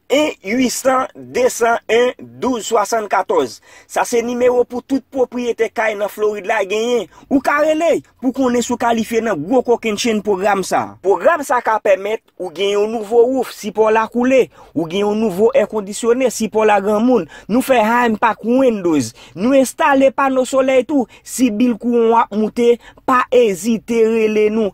1 800 201 12 74 Sa se nimewo pou tout pwopriyetè kay nan Florid la genyen. Ou ka rele pou konnen si w kalifye nan gwo kokennchenn pwogram sa a. Pwogram sa a ka pèmèt ou gen yon nouvo wouf, si pa w la koule, ou gen yon nouvo èkondisyone, si pa w la granmoun, nou fè high-end pa ak Windows. Nou enstale pano solèy tou. Si bil kouran w ap moute, pa ezite rele nou.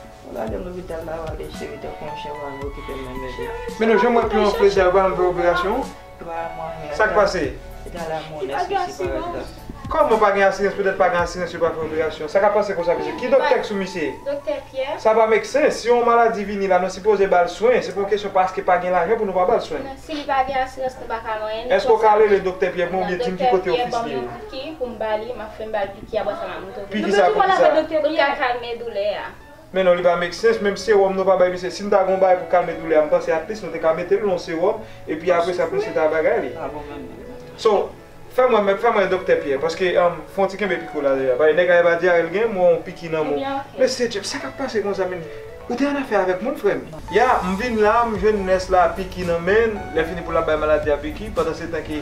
Gadem lopital la wap vin cheri tankou yon chen wap vin okipem nan bebe. Menou janm wè piyon plezi a banm fè operasyon an? Sak pase? Kòman pa gen asirans petèt pa gen asirans yo pa fè operasyon an? Sa ka pase konsa mesye? Ki doktè k sou misye? Sa pa make sense, si yon maladi vini la nou sipoze bal swen, se pa yon kesyon paske pa gen lajan pou nou pa bal swen. Eske w ka rele doktè Pyè pou mwen oubyen dim ki kote ofis li ye? Ki a bwa sa map moute w Pou kisa pou kisa Pou l ka kalme doulè a. Men non li pa make sense menm sewòm nou pa bay misye si nou ta gon bagay pou kalme doulè a m panse at least nou te ka metel l yon sewòm epi apre sa pou misye ta bagay li so fèm wè fèm wè doktè Pierre paske fon ti kenbe piko la deja paske nèg la epa dyare l gen m wè yon piki nan menw mesye Jeff sa kap pase konsa menm ou te annafè avèk moun frè m. Ya m vin la m jwenn nurse la piki nan menl lèfini pou lap bay maladi a piki pandansetan ke.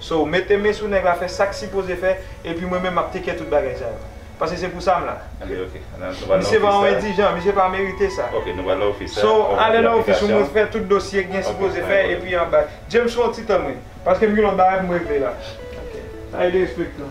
So mete men sou nèg la fè sak sipoze fè epi mwen menm map take kè tout bagay sa yo. Pase se pou sa m la. Misye va yon endijan, misye pa merite sa. So ale nan ofis ou mwen fè tout dosye k gen sipoze fè epi an bay. James fè yon ti tann wi. Paske m gen yon bagay pou m regle la. Sa e de respect lan.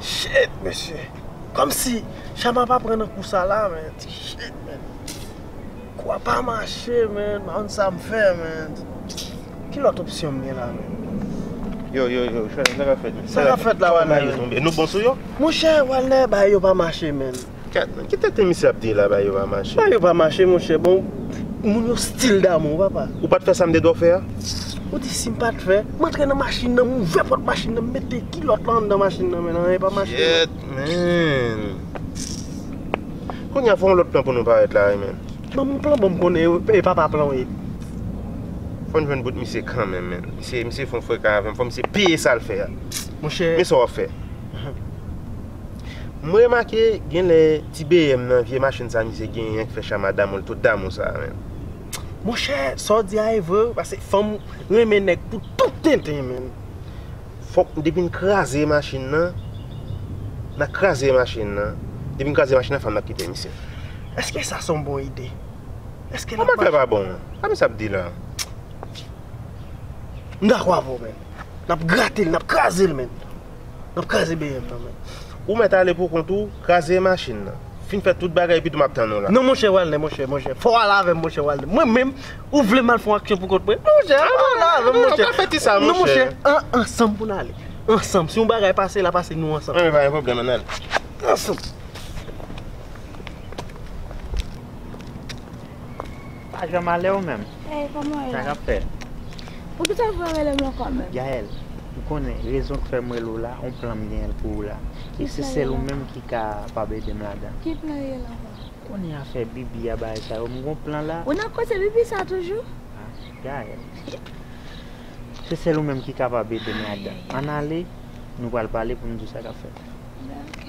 Shit mesye Komsi Shama pa pran nan kou sa la man Shit man Kou a pa mache man M pa konn sa m fè man Ki lòt opsyon m gen la man Yo yo yo Shama sa k ap fèt la Sa k ap fèt la Walner Monchè Walner bagay yo pa mache man Gad nan ki tenten misye ap di la ba yo pa mache. Ba yo pa mache monchè bon moun yo stil damou papa. Ou pat fè sa m te dò fè a? Ou di si m pat fè? M antre nan machin nan m ouvè pòt machin nan m mete kilòt lan anndan machin nan men anyen pa mache. Gyèt menn. Kounya fè yon lòt plan pou nou parèt la wi menn. Ban m plan bon m konnen yo e papa plan w ye. Fò n jwenn bout misye kanmenm menn. Misye misye fon freka avè m fò misye peye sa l fè a. Monchè. Men sa w ap fè. M remake genlè ti BM nan vye machin sa misye genyen an ki fè chama damou l tout damou sa menm. Monchè sa w di a e vre wi paske fanm renmen nèg pou tout tenten menn fòk depi n kraze machin nan nan kraze machin nan depi n kraze machin nan fanm nan ap kite misye èske sa son bon ide èske lap mache sa misye ap di la m dakò avè w menn nap grate l nap kraze l menn. Map kraze BM nan mwen. Ou mèt ale pou kont ou, kraze machin nan. Fin fè tout bagay epitou map tann ou la. Non monchè Walner monchè, monchè. Fòw ale avèm monchè Walner. Mwen menm, ou vle mal fon aksyon pou kont mwen? Non monchè, ale avèm monchè. An nou pa fè ti sa monchè. Non monchè, an ansanm pou n ale. Ansanm, si yon bagay pase la pase nou ansanm. An pa gen pwoblèm an n ale. Ansanm. Pa janm ale ou menm? Hey koman ou ye la? Sa kap fèt? Poukisa ou pa rele mwen kon menm? Gaëlle, ou konnen rezon k fèm rele w la, on plan m genyen l pou ou la. E se sèl ou menm ki ka pab ede m ladan. Ki plan ye la ankò? Ou konnen afè Bibi a bagay sa yo, m gon plan la. Ou nan koze Bibi sa toujou? Ha, Gaëlle. Se sèl ou menm ki kapab ede m ladan. Ann ale, nou pral pale pou m di w sa kap fèt. Ben ok.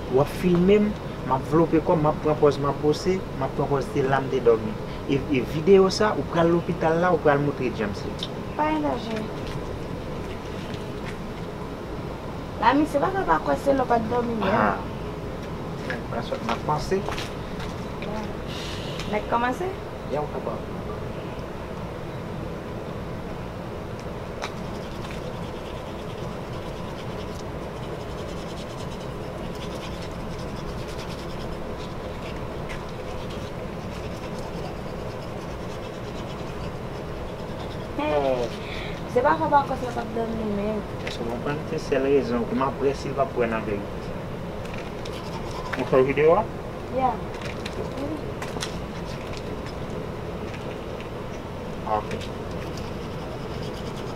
Wap filme m, map vlope kòm, map pran pòz map bose, map pran pòz se la m te dòmi. E video sa ou pral lopital la ou pral moutre James li. Pa elaji. La misye paka pa kwè se lè w pat dòmi menm. Haa. Nèg pran sòt nan panse. Nèg kòmanse? Yow kapab. Se pa fòt Marcos la pap dòmi men. Èske w konprann se sèl rezon ke m ap wè si l pap wè nan vérité. Ou fè video a? Yeah.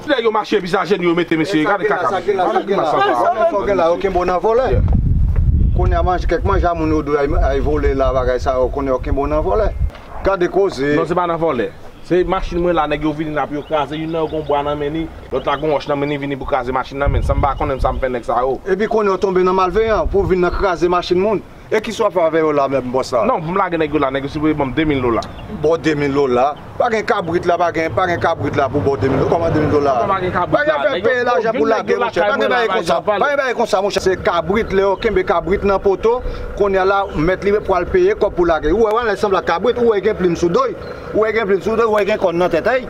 Nèg yo mache epi se ajenou yo mete mesye gade kaka mesye gade grimas sa sa a menm gen la yo kenbe w nan vòlè kounye a kèk manje a moun yo dwe al vole la bagay sa yo kounye a yo kenbe w nan vòlè gade koze. Non se pa nan vòlè se machin mwen la nèg yo vini la pou yo kraze youn nan yo gon bwa nan men li lòt la gon wòch nan men li vini pou kraze machin nan men sa m pa konnen sa m fè nèg sa yo. Epi kounye a w tonbe nan malveyan pou w vin nan kraze machin moun E ki swa favè yo la menm bò sa? Non, pou m lage nèg yo la, nèg yo sipoze ban m 2000 dola. Ba w 2000 dola? Pa gen kabrit la, pa gen, pa gen kabrit la pou ba w 2000 dola. Kòman 2000 dola? Kòman pa gen kabrit la? Pa gen afè peye lajan pou lage monchè. Pa gen bagay konsa. Pa gen bagay konsa monchè. Se kabrit, lè yo kenbe kabrit nan poto, kounye a la, mèt li pral peye kòb pou lage. Ou wè wè, lè l sanble ak kabrit, ou wè gen plim sou do l, ou wè gen plim sou do l, ou wè gen kòn nan tèt a l.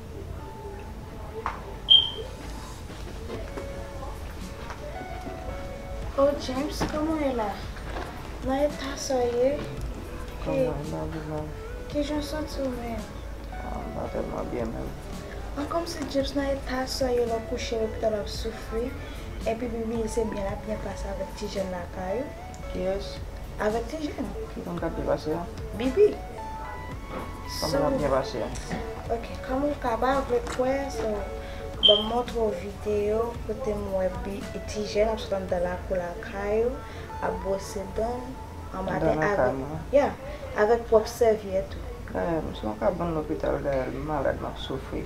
Oh James koman w ye la? Nan eta sa w ye? Kòman w ye la Lina? Kijan w santi w menm? M pa tèlman byen menm. An kòmsi James nan eta sa w ye lè w kouche lopital w ap soufri epi Bibi se byen l ap byen pase avèk ti jèn lakay ou? Yes. Avèk ti Jèn. Ki moun kap byen pase a? Bibi. Sa moun ap byen pase a? Ok, kòm ou ka pa vle kwè, so ban m montre w videyo kote m wè ti Jèn ap sot anndan lakou lakay ou, ap bwose dan l an maten avèk, ya, avèk pwòp sèvyèt ou. Gayèl, m sou yon kabann lopital Gayèl, m malad, m ap soufri.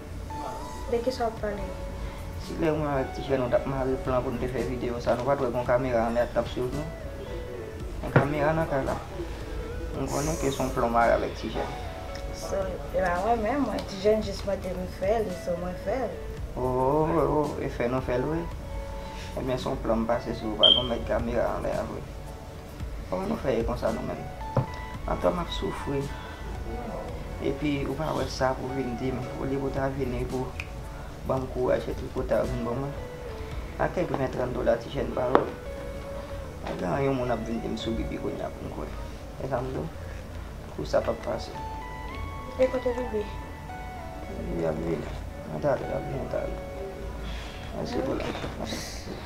De kisa wap pale? Si lè mwen avèk ti frè nou tap mare plan pou nou te fè video sa nou pat wè gon kamera anlè ak tap swiv nou? Gen kamera nan kay la. M konnen ke son plan w mare avèk ti jèn. So e pa mwen menm mwen ti jèn jis mande m fè li so mwen fè l. Oohh e fè nou fè l vre? Ebyen son plan m pase sou ou pa gon mèt kamera anlè a vre? Kòman nou fè ye konsa nou menm? Antò map soufri epi ou pa wè sa pou vin dim olye pou ta vini pou banm kouraj fè tout kota ou vin ban mwen ak kèk 20 30 dola ti jèn pawol pa gen anyen moun ap vin dim sou bibi kounya poum kwè esa m diw kou sa pap pase. E kote bibi? Bibi ap vini nan talè lap vini nan talè. Mèsi pou la.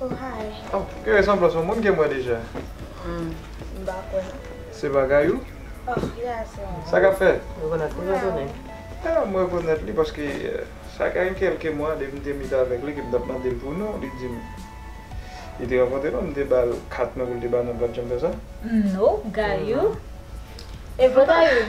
Oh hi. Oh gen resanblans yon moun kem wè deja. M pa kwè non. Se bagay ou? Oh yeah se mwen. Sa kap fèt? Rekonèt li rekonèt. Ah m rekonèt li paske sa gen kelke mwa depi m te meet avèk li ke m tap mandel pou non li dim li te rankontre nou m te bal kat mwen pou l te ba non l pat janm fè sa? Nope gayou. E vre gayou?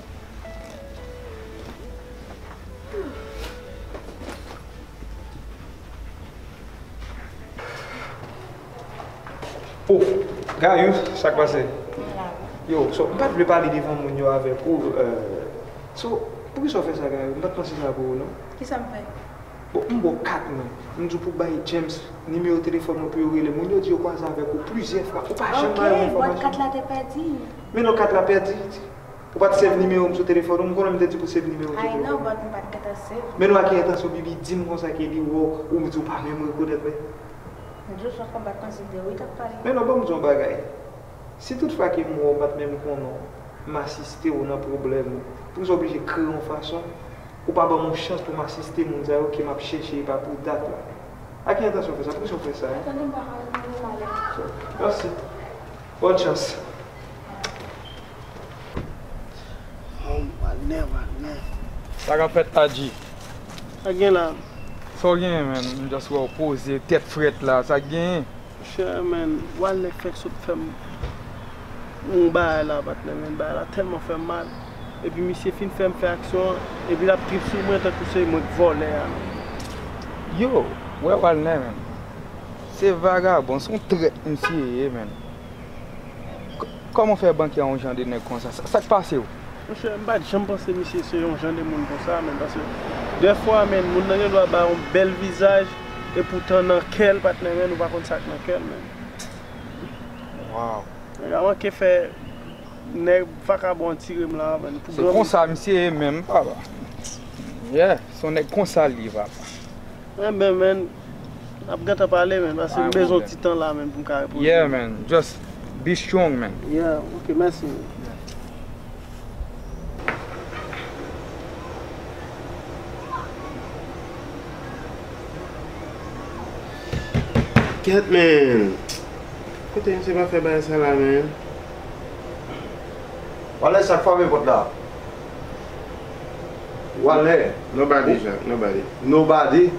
Oh, Gayou, sa k pase? Yo, so, m pat vle pale devan moun yo avèk ou, so, pou ki sa w fè sa Gayou? M pat panse sa pou ou non. Ki sa m fè? Bon, m ba w kat mwen, m di w pou w bay James nimewo telefòn mwen pou yo rele moun yo di yo kwaze avèk ou plizyè fwa, ou pa janm ba yo enfòmasyon. Ok, bòt kat la te pèdi. Men non kat la pèdi. Ou pat save nimewo m sou telefòn ou m konnen m te di pou w save nimewo m sou telefòn. Ay non but m pat gentan save. Men nou a ki entansyon bibi dim konsa ke li wè w ou m di w pa menm rekonèt mwen. M di w son konbat mwen se de ou tap pale. Men non banm di w yon bagay si tout fwa ke m wè w m pat menm konnen w m asiste w nan pwoblèm ou poukisa w oblije kreye yon fason ou pa banm yon chans pou m asiste moun sa yo ke map chèche epa pou dat la a ki entansyon w fè sa poukisa w fè sa hein. Tande m pa pale m renmen w ale. Merci. Bonne chance. Wagner wagner. Sa kap fèt Adji? Sak gen la? Sa w genyen menm? M just wè w poze, tèt frèt la, sak genyen? Monchè men, Walner fenk sot fè m yon bagay la patnè men, bagay la tèlman fè m mal, epi misye fin fè m fè aksyon an, epi lap trip sou mwen tankou se mwen k vòlè a menm. Yow, wè Walner menm, se vagabon, son trèt misye ye menm. Kòman w fè bank yon jan de nèg konsa? Sa k pase w? Monchè, m pa t janm panse misye se yon jan de moun konsa menn. Paske dèfwa menn, moun nan gen dwa ba yon bèl vizaj, epoutan nan kè l pa t menmen, nou pa konn sa k nan kè l menn. Waw! Nèg la manke fè nèg vakabon an tire m la avan. Se konsa misye ye menm papa. Yeah, se yon nèg konsa l ye papa. Enben menn. Nap gentan pale man paske m bezwen yon ti tan la man poum ka repoze. Yeah man just be strong man. Yeah ok mèsi man. Ket man Kote misye pa fè bagay sa la man. Wale sak fame pot la. Wale. Nobody Jacques nobody. Nobody.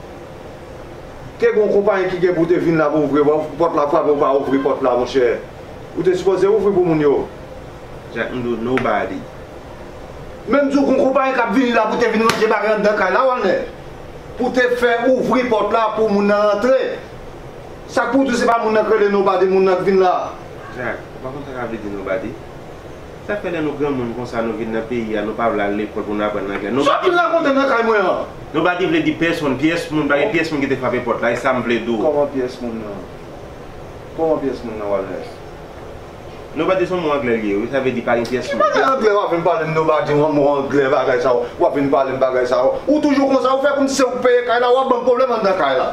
Te gon konpayi ki gen pou te vin la pou ouvri pòt la frape ou pa ouvri pòt la monchè ou te sipoze ouvri pou moun yo. Jack m di w nobody. Menm di w gon konpayi kap vini la pou te vin ranje bagay anndan kay la wannè pou te fè ouvri pòt la pou moun nan rantre sak pou w di w se pa moun nan k rele nobody moun nan k vin la. Jack ou pa konn sa sa vle di nobody. Sak fè lè nou granmoun konsa nou vin nan peyi a nou pa vle al lekòl pou nou aprann anglè non Baggy vle di non Baggy vle di pèsonn pyès moun pa gen pyès moun ki te frape pòt la e sam vle di w Kòman pyès moun nan Kòman pyès moun nan wal rès Non Baggy son mo anglè li ye wi sa vle di pa gen pyès moun Ki bagay anglè wap vin pale m non Baggy yon mo anglè bagay sa yo wap vin pale m bagay sa yo ou toujou konsa ou fè kòmsi se ou k peye kay la wap banm pwoblèm anndan kay la.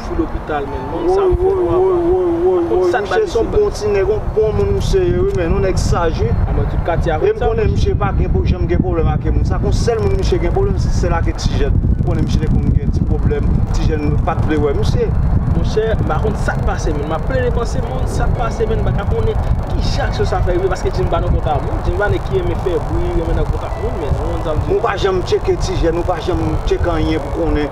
Fou lopital menn non sa fò non apa. Woy woy woy woy woy misye son bon ti nèg yon bon moun misye ye wi menn yon nèg saj wi. Anmwey tout katye a konn sa. Em konnen misye pa janm gen pwoblèm ake moun sa kon sèl moun misye gen pwoblèm se sèl ake ti jèn m konnen misye te konn gen ti pwoblèm ti jèn yo pat vle wè misye. Monchè m pa konn sak pase menn map plede panse moun sak pase menn m paka konnen kije aksyon sa fè rive paske Jimmy pa nan kontak moun Jimmy pa nèg ki renmen fè bri renmen nan kontak moun menn ou konn sa m di w la. Ou pa janm tcheke ti jèn ou pa janm tcheke anyen pou konnen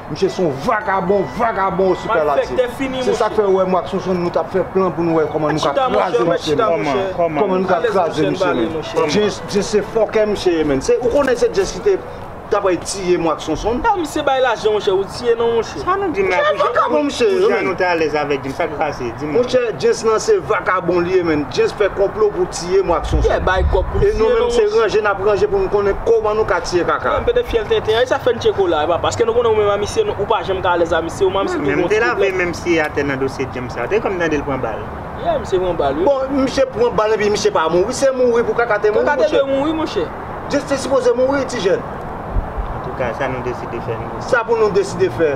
Misye son vagabon, vagabon au superlatif. Se sak fè ou wè mwen ak Sonsonn nou tap fè plan pou nou wè kòman nou ka kraze misye menm. Kòman nou ka kraze misye menm. Jess se fòkè misye ye menn. Ou konnen se Jess ki te tap rèy tiye mwen ak Sonsonn. Epa misye bay lajan monchè ou tiye non monchè. Sa nou di menm la pou jan nou te alèz avèk li sa ki pase di m. Monchè Jess lan se vagabon li ye menn. Jess fè konplo pou Tiye mwa ak sonson. E nou menm se ranje nap ranje pou nou konnen koman nou ka tiye kaka. Menm pete fyèl tenten an e sa fè n tye kola a papa. Eske nou konnen ou menm amitye ou pa janm ka alèz amitye ou man misye toujou yon ti pwoblèm. Menm si e atè nan dosye James la. Te konn tande l pran bal. Yeah misye pran bal wi. Bon misye pran bal epi misye pa mouri se mouri pou kaka te mouri monchè. Kaka te dwe mouri monchè. James te sipoze mouri ti jèn. Antouka sa nou deside fè nou. Sa pou nou deside fè.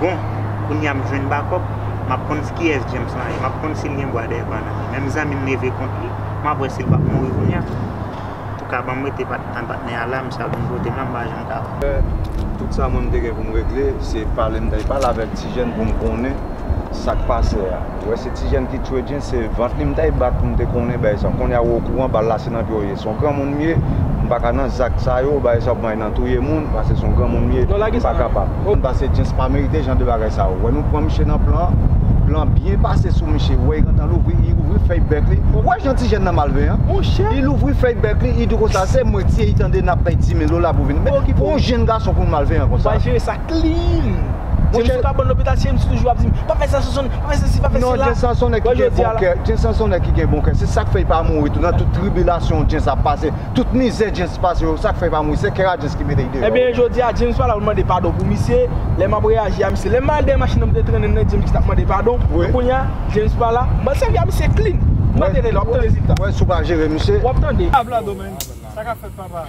Bon, kounya m jwenn bakòp, m ap konn kiyès James lan ye, m ap konn si l gen bwa dèyè pa nan men. Menm zanmi m leve kont li, m ap wè si l p ap mouri kounya. Antouka, ban m rete ann patnè a la, misye ap vin pote m la, m pa janm ka wè. Apre tout sa mwen m te gen pou m regle, se pale m ta pale avèk ti jèn pou m konnen sa k pase a. Ou wè se ti jèn ki tchwe Jens se vant li m tèy bat pou m te konnen bagay sa konnya ou okouran bal la se nan pye w ye son granmoun m ye m paka nan zak sa yo bagay sa yo pran nan touye moun pase son granmoun m ye m pa kapab pase Jens pa merite jan de bagay sa ou wè nou pran miche nan plan plan byen pase sou miche ou wè li gentan louvri li ouvri fèy bèk li ou wè jan ti jèn nan malven an li louvri fèy bèk li li di konsa se mwen ti e li tande n ap pèy 10000 dola pou vin pou yon jenn gason pou l malveyan konsa. clean. Mon chè. Si m pa bon lopital cheri m sou toujou ap di m pa fè sa Sonsonè, pa fè sa si, pa fè sa la. Non Jensonsonè ki gen bon kè, Jensonsonè ki gen bon kè. Se sak fè li pa mouri tou nan tout tribilasyon Jens ap pase, tout mizè Jens pase yo, sak fè li pa mouri se kè a Jens ki mete li deyò. Ebyen jodi a Jens pa la pou l mande padon pou misye, lè m ap reyaji a misye. Lè m al dèyè machin nan m te trennen l nan Jens ki t ap mande padon, men kounye a Jens pa la, m ap sèvi a misye clean. M ap rete la, w ap tande rezilta. Wè si w pa jere misye. W ap tande. Abladomen, sa k ap fèt papa?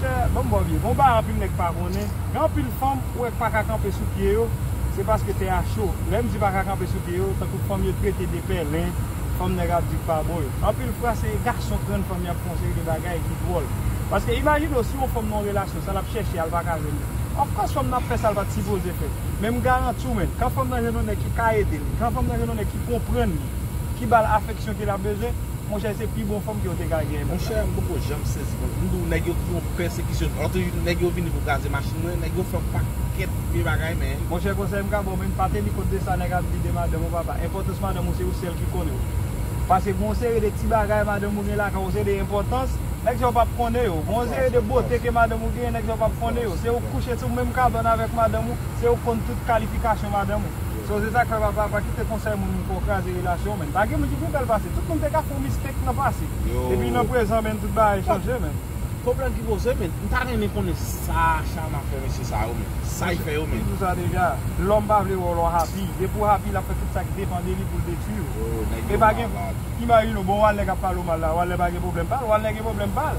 Chè banm baw vye bon bagay anpil nèg pa konnen gen anpil fanm ou wè k paka kanpe sou pye yo se paske tè a cho lèm di paka kanpe sou pye yo tankou fanm yo trete de pèlen fanm nèg ap di k pa bon yo anpil fwa se gason k rann fanm yap fè yon seri de bagay ki dwòl paske imajine w si yon fanm nan yon relasyon sa lap chèche a l paka jwenn li of kòs fanm nan ap fè sa l pat sipoze fè men m garanti w menn kan fanm nan jwenn yon nèg ki ka ede l kan fanm nan jwenn yon nèg ki konprann li ki bal afeksyon ke lap bezwen. Monchè se pi bon fanm ke ou te ka gen. Monchè m poko janm sezi konn m di w nèg yo twò pèsekisyon m antre jou nèg yo vini pou kraze machin mwen nèg yo fè yon pakèt vye bagay men. Monchè konsèy m ka ba w men m pa teni kont de sa nèg ap di de madanm ou papa enpòtans madanm ou se ou sèl ki konnen w pase gon seri de ti bagay madanm ou gen lakay ou gon seri de enpòtans nèg sa yo pap konnen yo gon seri de bote ke madanm ou genyen nèg sa yo pap konnen yo se ou k kouche sou menm kabann avèk madanm ou se ou k konn tout kalifikasyon madanm ou. So se sak fè papa pa kite konsèy moun pouw kraze relasyon menn pa gen moun ki pi bèl pase tout moun te ka fè yon mistake nan pase epi nan prezan menn tout bagay chanje menn. Pwoblèm ki poze menn, m ta renmen konnen sa Shama fè mesye sa yo menn, sa li fè yo menn. Li di w sa deja, lòm pa vle wè w lè w happy, depi w happy lap fè tout sa ki depan de li pou l detwi w. Epa gen, imajine w, bon Walner kap pale w mal la, Walner pa gen pwoblèm pa l, Walner gen pwoblèm pa l.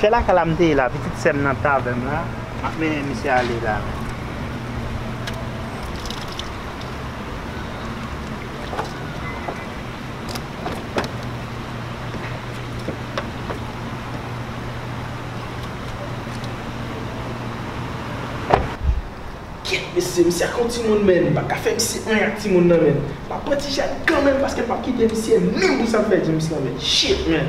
Se lakay la m te ye la, pitit sè m nan t avè m la, m ap mennen misye ale la. Kyèt mesye, misye ak yon timoun men, m pa ka fè misye anyen ak timoun nan men. M ap pran ti jèn kanmenm paske m p ap kite misye menm pou sa m fè James lan men. Shit man!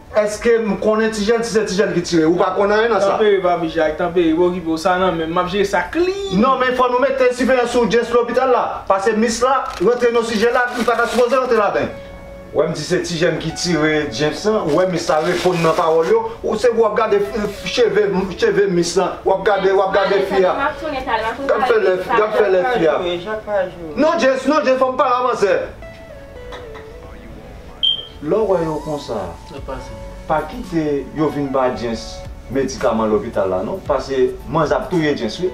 Eske m konnen ti jèn si se ti jèn ki tire ou pa konn anyen nan sa. Tanpere papi jak tanpere pa okipe w sa nan menm map jere sa klin. Non men fò nou mete siveyans sou Jess lopital la pase mis la rantre nan sijè la li pata sipoze rantre ladan. Wè m di se ti jèn ki tire James lan ou wè mis la reponn nan pawòl yo ou se pou wap gade cheve cheve mis lan wap gade wap gade fi a gad fè lèf gad fè lèf fi a non James non James fòm pale avan sè. Lè w wè yo konsa, pa kite yo vin ba Jens medikaman lopital la non, pase manzè ap touye Jens wi.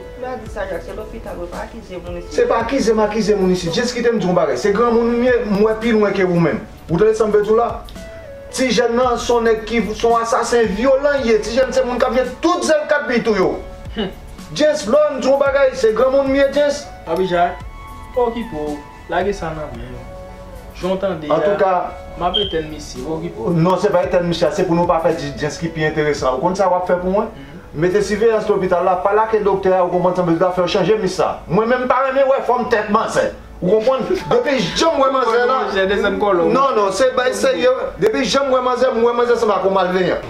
Se pa akize m akize moun isit. Jens kite m di w yon bagay, se granmoun m ye, m wè pi lwen ke ou menm. Ou tande sa m vle di w la? Ti jèn nan se yon nèg ki, se yon asasen vyolan li ye, ti jèn se moun k ap gen tout zèl kat pou li touye w. Jens, lè w wè m di w yon bagay, se granmoun m ye Jens. Abijay, okipe w. Lage sa nan men yo. Jan w tande a, m ap etèn misye a, okipe w. Non, se pa etèn misye a, se pou nou pa fè dijijens ki pi enteresan. Ou konn sa w ap fè pou mwen? Mete siveyans lopital la, pale ake doktè a, ou konprann sa m vle di la, fè yo chanje mis sa. Mwen menm m pa renmen wè fòm tèt manzè. Ou konprann? Depi jan m wè manzè la, non, non, se bay serye, depi jan m wè manzè, m wè manzè sanble ak yon malveyan.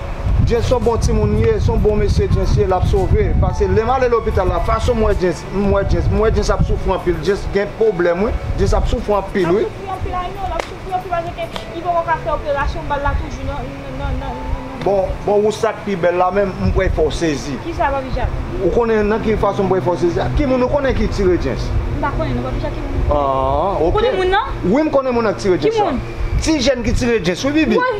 Jens son bon timoun li ye, son bon mesye Jens ye lap sove, pase lèm ale lopital la fason m wè Jens, m wè Jens, m wè Jens ap soufri anpil, Jens gen pwoblèm wi, Jens ap soufri anpil wi. Lap soufri anpil Ayno, lap soufri anpil paske ke li poko ka fè operasyon bal la toujou nan nan nan Bon bon ou sak pi bèl la menm m kwè fòw sezi. Kisa papi jak? Ou konnen nan ki fason m kwè fòw sezi a? Ki moun ou konnen ki tire Jens? M pa konnen non papi jak ki moun ou konnen? Aah ok. Ou konnen moun nan? Wi m konnen moun nan ki tire Jens la. Ki moun? Ti jèn ki tire Jens wi Bibi. Woy!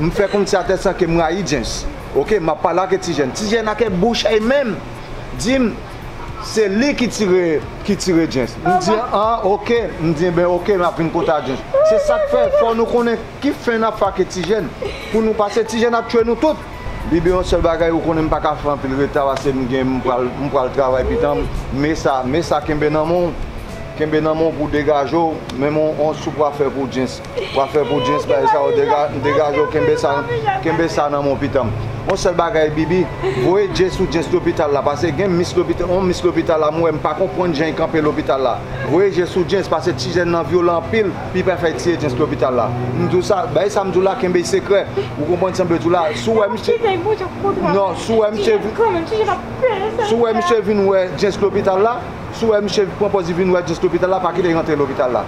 M fè konn se a tèt sa ke m rayi James ok m ap pale ake ti jèn ti jèn ake bouch a e menm di m se li ki tire ki tire James m di an ok m di enben ok m ap vin konte a James se sa k fè fò nou konnen ki fen n ap fè ake ti jèn pou nou pase ti jèn ap tchwe nou tout. Bibi yon sèl bagay ou konnen m pa ka fè anpil reta pase m gen m pral m pral travay pitan m me sa me sa kenbe nan men w kenbe nan men w pou w degaje w menm on on soup w a fè pou James Wap fè pou Jess bay sa ou degaje ou kenbe sa kenbe sa nan menw pitanm on sèl bagay Bibi voye Jess ou Jess lopital la pase gen mis lopital on mis lopital la m wè m pa konprann jan y kanpe lopital la voye Jess ou Jess pase ti jèn nan vyolan anpil pi pa fè tiye Jess lopital la m diw sa bay sa m diw la kenbe sekrè ou konprann sa m vle diw la si w wè misye non si w wè misye si w wè misye vin wè Jess lopital la si w wè misye pran pòz li vin wè Jess lopital la pa kite l rantre lopital la.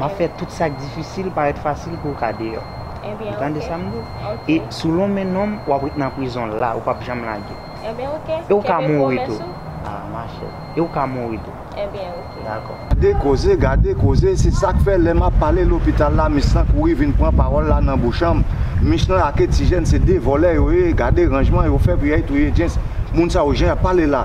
M ap fè tout sa k difisil parèt fasil pou w ka deyò. Ou tande sa m di w? E si w lonmen non m, w ap ret nan prizon la, ou p ap janm lage. E ou ka mouri tou. A machè. E ou ka mouri tou. Dakò. Gade koze, gade koze, se sa k fè lè m ap pale lopital la, mis lan kouri vin pran pawòl la nan bouchanm. Mis lan ake ti jèn se de vòlè yo ye, gade ranjman yo fè pou y al touye James. Moun sa yo jan y ap pale la.